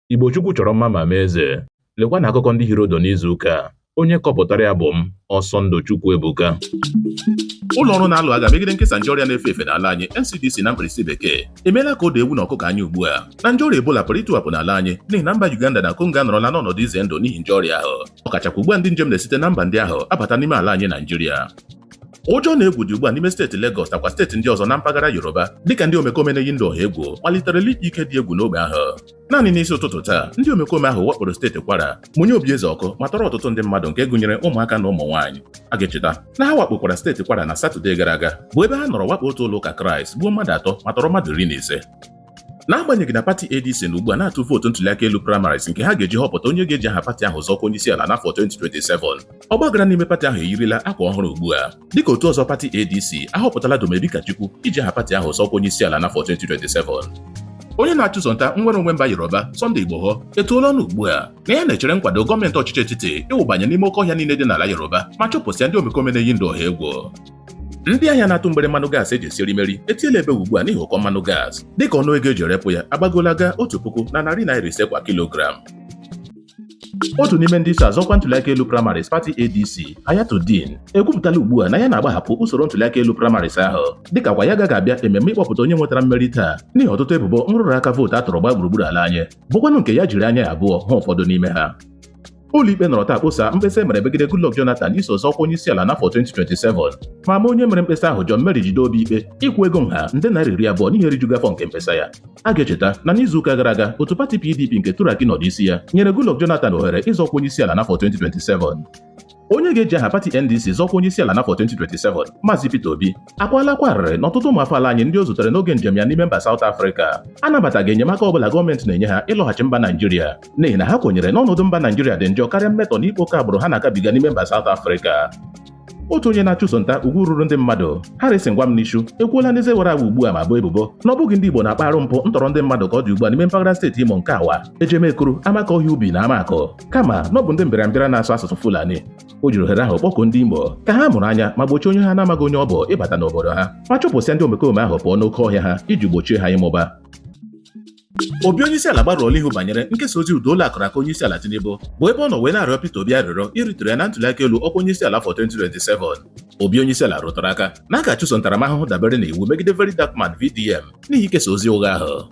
Igbo Chukwu chọrọ mma ma mee eze. Lekwa na akụkọ ndị hiri ụdụ n'izu ụka a. Onye kọpụtara ya bụ m, Ọsọndụ Chukwuebuka. Ụlọ ọrụ na-alụ agha megide nkesa nje ọrịa na-efe efe n'ala anyị NCDC na mkpirisi bekee emeela ka o doo ewu na ọkụkọ anya ugbu a na nje ọrịa Ebola pụrụ ịtụwapụ n'ala anyị n'ihi na mba Uganda na Congo anọrọla n'ọnọdụ ize ndụ n'ihi nje ọrịa ahụ ọkachakwa ugbu a ndị njem na-esite na mba ndị ahụ abata n'ime ala anyị Naijiria ụjọ na egwu dị ugbu a n'ime steeti Legọs nakwa steeti ndị ọzọ na mpaghara Yoruba dịka ndị omekome na-eyi ndụ ọha egwu maliterela ịkpa ike dị egwu n'ogbe ahụ naanị n'isi ụtụtụ taa ndị omekome ahụ wakporo steeti Kwara mụnye obi eze ọkụ ma tọrọ ọtụtụ ndị mmadụ nke gụnyere ụmụaka na ụmụ nwaanyị a ga-echeta na ha wakpokwara steeti Kwara na Satọde gara aga bụ ebe ha nọrọ wakpo otu ụlọ ụka Kraịst gbuo mmadụ atọ ma tọrọ mmadụ iri na ise n'agbanyeghị na pati ADC nọ ugbu a na-atụ vootu ntuliaka elu primaries nke ha ga-eji họpụta onye ga-eji aha pati ahụ zọọ ọkwa onye isi ala n'afọ 2027 ọgbaghara n'ime pati ahụ eyirila akwa ọhụrụ ugbu a dịka otu ọzọ pati ADC ahọpụtala Dumebi Kachikwu iji aha pati ahụ zọọ ọkwa onye isi ala n'afọ 2027 onye na-achụso nta nnwere onwe mba Yoruba Sunday Igboho etuola ọnụ ugbu a na ya na-echere nkwado gọọmenti ọchịchị etiti ịwụbanye n'ime oke ọhịa niile dị n'ala Yoruba ma chụpụsịa ndị omekome na-eyi ndụ ọha egwu ndị ahịa na-atụ mgbere mmanụ gaasị eji esi erimeri etiela ebe ugbu a n'ihi ụkọ mmanụ gaasị dịka ọnụ ego eji erepụ ya agbagola gaa otu puku na narị naira ise kwa kilogram otu n'ime ndị so azọ ọkwa ntuliaka elu primaries pati adc Hayatu-Deen ekwupụtala ugbu a na ya na-agbahapụ usoro ntuliaka elu primaries ahụ dịkakwa ya agaghị abịa ememme ịkpọpụta onye nwetara mmeri taa n'ihi ọtụtụ ebubo nrụrụ aka vootu a tụrụ gbaa gburugburu ala anyị bụkwanụ nke ya jiri anya ya abụọ hụ ụfọdụ n'ime ha Ụlọikpe nọrọ taa kposa mkpesa e mere megide Goodluck Jonathan iso zọọ ọkwa onyeisiala n'afọ 2027 ma maa onye mere mkpesa ahụ Johnmary Jideobi ikpe ịkwụ ego nha nde naira iri abụọ n'ihi erijughị afọ nke mkpesa ya a ga-echeta na n'izuụka gara aga otu pati PDP nke Turaki nọ n'isi ya nyere Goodluck Jonathan ohere ịzọ ọkwa onyeisiala n'afọ 2027 onye ga-eji aha pati NDC zọọ ọkwa onye isi ala n'afọ 2027 Maazị Peter Obi akwala akwa arịrị na ọtụtụ ụmụafọ ala anyị ndị o zutere n'oge njem ya n'ime mba South Africa anabataghị enyemaka ọbụla gọọmenti na-enye ha ịlọghachi mba Naijiria n'ihi na ha kwenyere na ọnọdụ mba Naijiria dị njọ karịa mmetọ na ịkpa oke agbụrụ ha na-agabiga n'ime mba South Africa otu onye na-achụso nta ugwu ruru ndị mmadụ Harrison Gwamnishu ekwuola n'eze wara awa ugbu a ma boo ebubo na ọ bụghị ndị Igbo na-akpa arụ mpụ ntọrọ ndị mmadụ ka ọ dị ugbu a n'ime mpaghara steeti Imo nke Awa Ejemekwuru Amakọhịa Ubi na Amakụ kama na ọ bụ ndị mbịarambịara na-asụ asụsụ Fulani o jiri ohere ahụ kpọkuo ndị Imo ka ha mụrụ anya ma gbochie onye ha na-amaghị onye ọ bụ ịbata n'obodo ha ma chụpụsịa ndị omekome ahụ pụọ n'oke ọhịa ha iji gbochie ha ịmụba Obi onyeisiala agbarụọla ihu banyere nkesa ozi ụda olu a kụrụ aka onyeisiala Tinubu bụ ebe ọ nọ wee na-arịọ Peter Obi arịrịọ irituru ya na ntụliaka elu ọkwa onyeisiala afọ 2027. Obi onyeisiala rụtụrụ aka na a ga-achụso ntaramahụhụ dabere na iwu megide Very Dark Man VDM n'ihi ikesa ozi ụgha ahụ.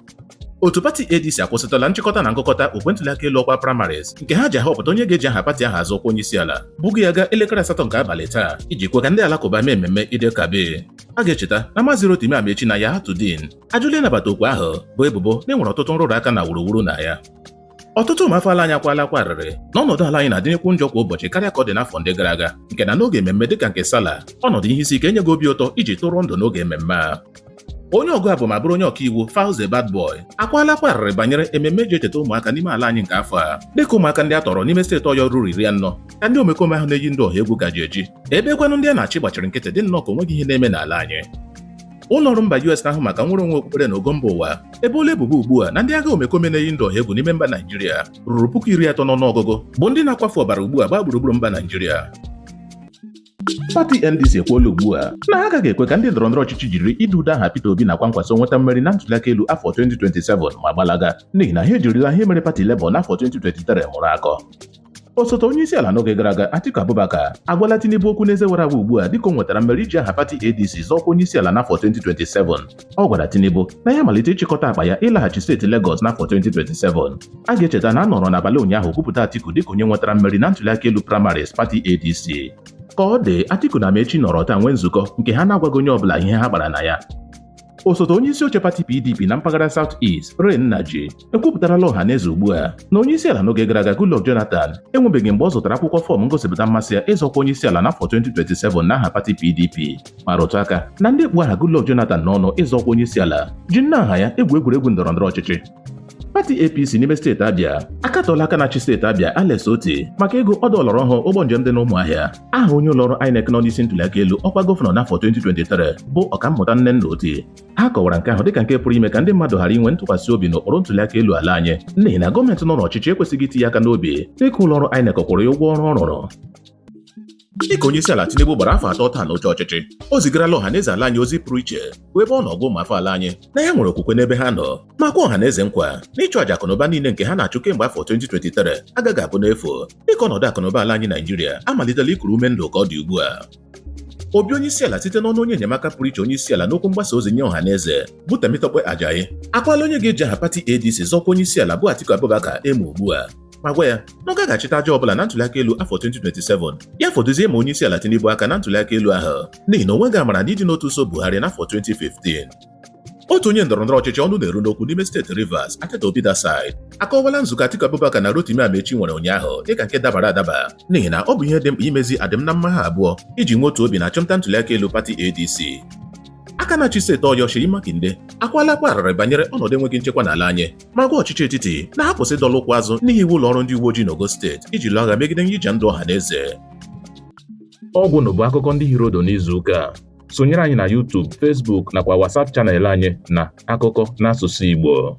Otu pati ADC akwụsịtụla nchịkọta na ngụkọta okwe ntụliaka elu ọkwa primaries nke ha ji ahọpụta onye ga-eji aha pati ahụ azọ ọkwa onyeisiala bugo ya gaa elekere asatọ nke abalị taa iji kwe ka ndị alakụba mee mmemme Eid el Kabir. A ga-echeta na Maazị Rotimi Amaechi na Hayatu-Deen ajụla ịnabata okwu ahụ bụ ebubo na enwere ọtụtụ nrụrụ aka na wuruwuru na ya ọtụtụ ụmụafọ ala anyị akwala akwa arịrị na ọnọdụ ala anyị na-adịnyekwu njọ kwa ụbọchị karịa ka ọ dị n'afọ ndị gara aga nke na n'oge ememme dịka nke Sala ọnọdụ ihe isi ike enyeghị obi ụtọ iji tụrụ ndụ n'oge ememme a onye ọgụ abụ ma bụrụ onye ọkaiwu Falz the Bad Boy akwala akwa arịrị banyere ememme eji echeta ụmụaka n'ime ala anyị nke afọ a dịka ụmụaka ndị a tọrọ n'ime steeti Ọyọ ruru iri anọ ka ndị omekome ahụ na-eyi ndụ ọha egwu ka ji eji ebe kwanụ ndị a na-achị gbachiri nkịtị dị nnọọ ka onweghị ihe na-eme n'ala anyị ụlọ ọrụ mba US na-ahụ maka nnwere onwe okpukpere na ogo mba ụwa eboola ebubo ugbu a na ndị agha omekome na-eyi ndụ ọha egwu n'ime mba Naijiria ruru puku iri atọ n'ọnụọgụgụ bụ ndị na-akwafu ọbara ugbu a gbaa gburugburu mba Naijiria pati NDC ekwuola ugbu a na ha agaghị ekwe ka ndị ndọrọ ndọrọ ọchịchị jiri ide ude aha Peter Obi nakwa nkwaso nweta mmeri na ntuliaka elu afọ 2027 ma gbalaga n'ihi na ha ejirila ihe mere pati Labour n'afọ 2023 mụrụ akọ osote onye isi ala n'oge gara aga Atiku Abubakar agwala Tinubu okwu n'eze wara awa ugbu a dịka o nwetara mmeri iji aha pati ADC zọọ ọkwa onye isi ala n'afọ 2027 ọ gwara Tinubu na ya malite ịchịkọta akpa ya ịlaghachi steeti Lagos n'afọ 2027 a ga-echeta na a nọrọ n'abalị ụnyaahụ kwupụta Atiku dịka onye nwetara mmeri na ntụliaka elu primaries pati ADC ka ọ dị Atiku na Amaechi nọrọ taa nwee nzukọ nke ha na-agwaghị onye ọbụla ihe ha kpara na ya osote onye isi oche pati PDP na mpaghara South East Ray Nnaji ekwupụtarala ọha na eze ugbu a na onye isi ala n'oge gara aga Goodluck Jonathan enwebeghị mgbe ọ zụtara akwụkwọ fọm ngosipụta mmasị ya ịzọ ọkwa onye isi ala n'afọ 2027 n'aha pati PDP ma rụtụ aka na ndị kpụ aha Goodluck Jonathan n'ọnụ ịzọ ọkwa onye isi ala ji nnọọ aha ya egwu egwuregwu ndọrọ ndọrọ ọchịchị pati APC n'ime steeti Abịa akatọla aka na-achị steeti Abịa Alex Otti maka ịgụ ọdọ ọlọrọ ọhụụ ụgbọ njem dị n'Ụmụahịa aha onye ụlọọrụ INEC nọ n'isi ntụliaka elu ọkwa gọvanọ n'afọ 2023 bụ ọkammụta Nnenna Oti ha kọwara nke ahụ dịka nke pụrụ ime ka ndị mmadụ ghara inwe ntụkwasị obi n'ụkpụrụ ntụliaka elu ala anyị n'ihi na gọọmenti nọ n'ọchịchị ekwesịghị iti ya aka n'obi dịka ụlọ ọrụ INEC kwụrụ ya ụgwọ ọrụ ọ rụrụ dịka onye isi ala Tinubu gbara afọ atọ taa n'oche ọchịchị o zigarala ọha na eze ala anyị ozi pụrụ iche bụ ebe ọ nọ gwa ụmụafọ ala anyị na ya nwere okwukwe n'ebe ha nọ ma kwe ọha na eze nkwa na ịchụ aja akụnụba niile nke ha na-achụ kemgbe afọ 2023 agaghị abụ n'efu dịka ọnọdụ akụnụba ala anyị Naijiria amalitela ikuru ume ndụ ka ọ dị ugbu a Obi onyeisiala site n'ọnụ onye enyemaka pụrụ iche onyeisiala n'okwu mgbasa ozi nye ọha na eze bụ Temitope Ajayi akwala onye ga-eji aha pati ADC zọọ ọkwa onyeisiala bụ Atiku Abubakar emu ugbu a ma gwa ya na ọ gaghị achịta aja ọbụla na ntụliaka elu afọ 2027 ya fọdụzie ịma onyeisiala Tinubu aka na ntụliaka elu ahụ n'ihi na o nweghị amara na ịdị n'otu so Buhari n'afọ 2015 otu onye ndọrọndọrọ ọchịchị ọnụ na-eru n'okwu n'ime steeti Rivers Atedo Peterside akọwala nzukọ Atiku Abubakar na Rotimi Amaechi nwere ụnyaahụ dịka nke dabara adaba n'ihi na ọ bụ ihe dị mkpa imezi adịm na mma ha abụọ iji nwee otu obi na achụmnta ntụliaka elu pati ADC aka na-achị steeti Ọyọ Seyi Makinde akwala akwa arịrị banyere ọnọdụ enweghị nchekwa n'ala anyị ma gwa ọchịchị etiti na ha kwụsị ịdọla ụkwụ azụ n'ihiwe ụlọ ọrụ ndị uwe ojii n'ogo steeti iji lụọ agha megide nyija ndụ ọha na eze egwu na bụ akụkọ ndị hiri ụdụ n'izu ụka sonyere anyị na YouTube, Facebook nakwa WhatsApp channel anyị na akụkọ n'asụsụ Igbo